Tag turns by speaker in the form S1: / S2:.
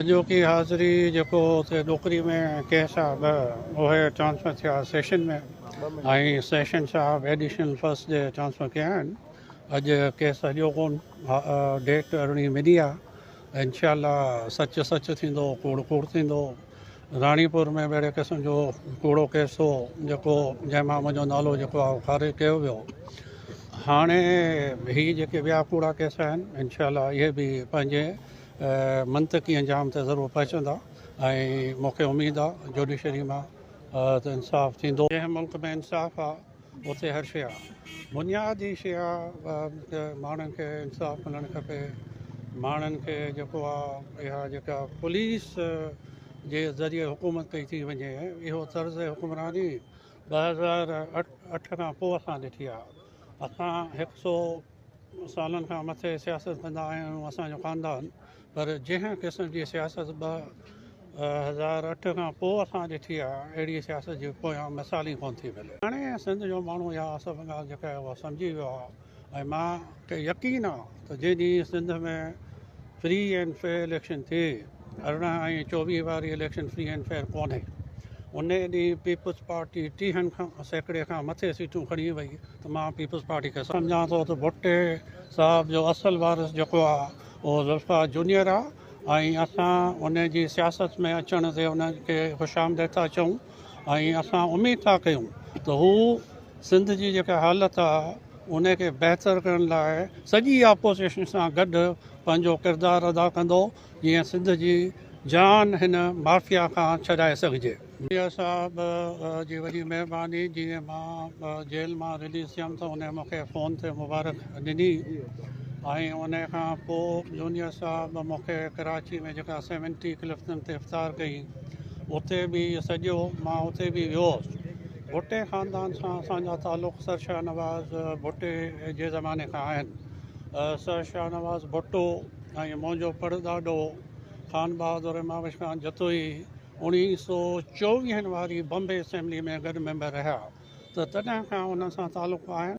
S1: اڄوڪي حاضري جيڪو اتي ڏوڪري ۾ ڪيس آ ٻه اهي ٽرانسفر ٿيا سيشن ۾ ۽ سيشن صاحب ايڊيشنل فرسٽ جي ٽرانسفر ڪيا آهن اڄ ڪيس اڄو ڪون ڊيٽ ارڙهين ملي آ انشاء الله سچ سچ ٿيندو ڪوڙ ڪوڙ ٿيندو راڻيپور ۾ به اهڙي قسم جو ڪوڙو ڪيس هو جيڪو جنهن مان منهنجو نالو جيڪو آ خارج ڪيو ويو هاڻي هي جيڪي ٻيا ڪوڙا ڪيس آهن انشاء الله اهي به پنهنجي منطقي انجام تي ضرور پهچندا ۽ مون کي اميد آ جوڊيشري مان ته انصاف ٿيندو. جنهن ملڪ ۾ انصاف آ اتي هر شي آ. بنياد ئي شي آ ته ماڻهن کي انصاف ملڻ کپي. ماڻهن کي جيڪو آ اها جيڪا پوليس جي ذريعي حڪومت ڪئي ٿي وڃي اهو طرز حڪمراني ٻه هزار اٺ کان پوء اسان ڏٺي آ. اسان هڪ سو سالن کان مٿي سياست ڪندا آيا آهيون اسان جو خاندان پر جنهن قسم جي سياست ٻه هزار اٺ کان پوء اسان ڏٺي آهي اهڙي سياست جي پويان مثال ئي ڪونه ٿي ملي. هاڻي سنڌ جو ماڻهو اها سڀ ڳالهه جيڪا آهي اها سمجهي ويو آهي ۽ مان کي يقين آهي ته جنهن ڏينهن Sindh ۾ free and fair election ٿئي ارڙهن ۽ چوويهه واري اليڪشن فري اينڊ فيئر ڪونهي، انهي ڏينهن پيپلز پارٽي ٽيهن سيڪڙي کان مٿي سيٽون کڻي وئي ته مان پيپلز پارٽي کي سمجهان ٿو ته ڀٽي صاحب جو اصل وارث جيڪو آهي اهو ذوالفقار جونيئر آهي ۽ اسان ان جي سياست ۾ اچڻ تي ان کي خوش آمديد ٿا چئون ۽ اسان اميد ٿا ڪيون ته هو سنڌ جي جيڪا حالت آهي ان کي بهتر ڪرڻ لاء سڄي آپوزيشن سان گڏ پنهنجو ڪردار ادا ڪندو جيئن سنڌ جي جان هن مافيا کان ڇڏائي سگهجي. مير صاحب جي وڏي مهرباني جيئن مان جيل مان رليز ٿيم ته انهن مون کي فون تي مبارڪ ڏني ۽ انهن کان پوء جونيئر صاحب مون کي ڪراچي ۾ جيڪا سيونٽي ڪلفٽن تي افطار ڪئي اتي به سڏيو مان اتي به ويو هوس ڀٽي خاندان سان اسان جا تعلق سر شاهنواز ڀٽي جي زماني کان آهن سر شاهنواز ڀٽو ۽ منهنجو پڙڏاڏو خان بهادر امام عثمان جتوئي اڻيهه سؤ چوويهن واري بمبي اسيمبلي ۾ گڏ ميمبر رهيا ته تڏهن کان انهن سان تعلق آهن.